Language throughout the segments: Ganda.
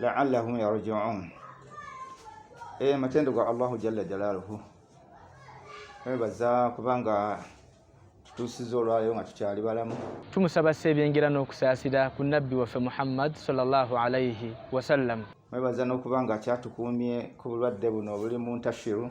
laallahum yarjiun e matendo ga allahu jalla jalaluhu ebaza kubanga tutuusiza olwayo nga tukyali balamu tumusaba se ebyengera n'okusaasira ku nabbi waffe muhammad salllah alaihi wasallam mwebaza n'okuba nga kyatukuumye ku bulwadde buno obuli mu ntashiru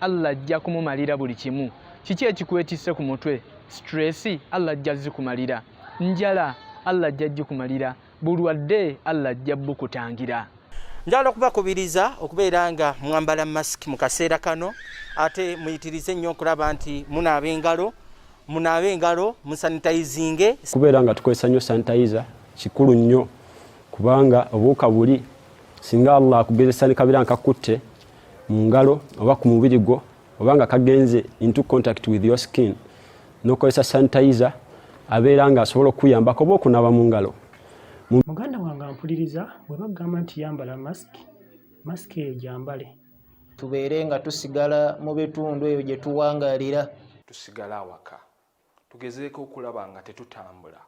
Allah ajja kumumalira buli kimu. Kiki ekikwetisse ku mutwe? Stress, Allah ajja zikumalira. Njala, Allah ajja jikumalira. Bulwadde, Allah ajja bukutangira. Njala okubakubiriza okubeera nga mwambala mask mu kaseera kano ate muyitirize nnyo okulaba nti munaaba engalo munaaba engalo musanitayizinge kubeera nga tukozesa nnyo sanitayiza kikulu nnyo kubanga obuuka buli singa allah akugezesa ne kabeera nkakutte mu ngalo oba ku mubiri gwo oba nga kagenze into contact with your skin nokozesa sanitizer abeera nga asobola okukuyambako oba okunaba mu ngalo muganda wange ampuliriza bwe bagamba nti yambala mask mask eyo gyambale tubeere nga tusigala mu bitundu eyo gye tuwangalira tusigala awaka Tugezeeko okulaba nga tetutambula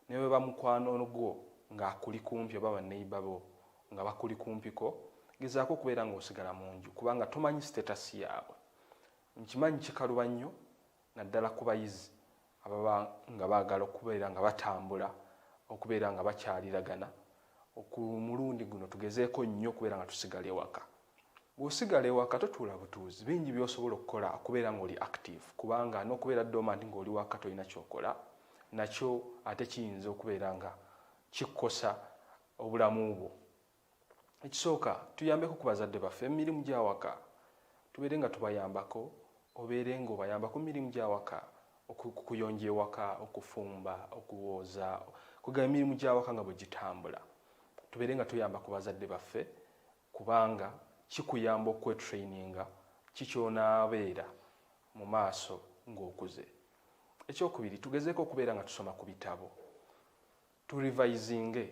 ne bwe ba mukwano gwo ng'akuli kumpi oba banneyiba bo nga bakuli kumpiko, gezaako okubeera ng'osigala mu nju kubanga tomanyi sitetasi yaabwe. Nkimanyi kikaluba nnyo naddala ku bayizi ababa nga baagala okubeera nga batambula, okubeera nga bakyaliragana. Ku mulundi guno tugezeeko nnyo okubeera nga tusigala ewaka. Bw'osigala ewaka totuula butuuzi, bingi by'osobola okukola okubeera ng'oli active kubanga n'okubeera dormant ng'oli waka tolina ky'okola nakyo ate kiyinza okubeera nga kikosa obulamu bwo. Ekisooka tuyambeko ku bazadde baffe mu mirimu gy'awaka, tubeere nga tubayambako, obeere ng'obayambako mu mirimu gy'awaka, okuyonja ewaka, okufumba, okuwooza, kwegamba emirimu gy'awaka nga bwe gitambula tubeere nga tuyamba ku bazadde baffe kubanga kikuyamba okwetraininga ki ky'onaabeera mu maaso ng'okuze. Ekyokubiri, tugezeeko okubeera nga tusoma ku bitabo, turivayizinge,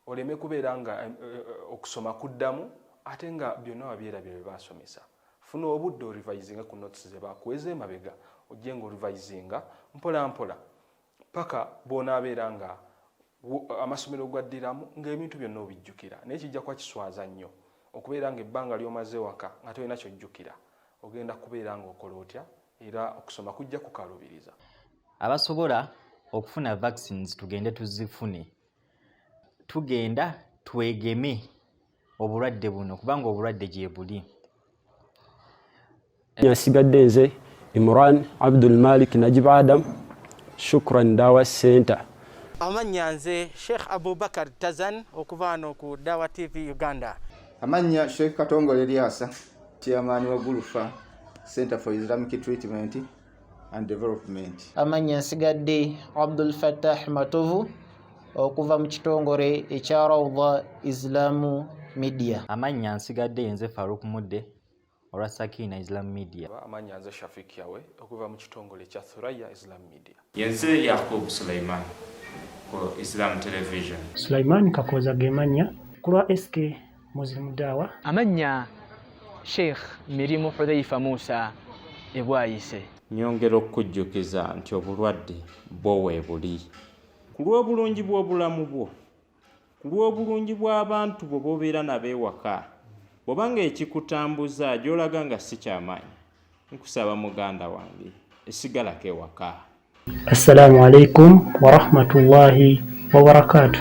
oleme kubeera nga eh, eh, okusoma kuddamu ate nga byonna wabyerabira bye baasomesa. Funa obudde orivayizinge ku notes ze baakuweza emabega, ojje nga orivayizinga mpolampola paka bw'onaabeera nga amasomero gwaddiramu ng'ebintu byonna obijjukira naye kijja kuba kiswaza nnyo okubeera ng'ebbanga ly'omaze waka nga tolina kyojjukira ogenda kubeera ng'okola otya era okusoma kujja kukalubiriza abasobola okufuna vaccines tugende tuzifune tugenda twegeme obulwadde buno kubanga obulwadde gyebuli asigadde nze imran abdul malik najib adam shukran dawa center amannya nze sheikh abubakar tazan okuva ano ku dawa tv uganda amannya sheikh katongole lyasa chairman wa gulufa center for islamic treatment and development. Amanya nsigadde Abdul Fattah Matovu okuva mu kitongole ekya Rawda Islamu Media. Amanya nsigadde nze Farouk Mudde olwa Sakina Islam Media. Amanya nze Shafiq Yawe okuva mu kitongole ekya Thuraya Islam Media. Yenze Yakub Suleiman ku Islam Television. Suleiman Kakooza ge mannya ku lwa SK Muslim Dawa. Amannya Sheikh Mirimu Hudhaifa Musa ebwayise. Nyongera okukujjukiza nti obulwadde bwo weebuli. Ku lw'obulungi bw'obulamu bwo, ku lw'obulungi bw'abantu bwo b'obeera nabo ewaka, bw'oba ng'ekikutambuza gy'olaga nga si kyamaanyi, nkusaba muganda wange esigalako ewaka. Assalamu alaikum warahmatullahi wabarakaatu.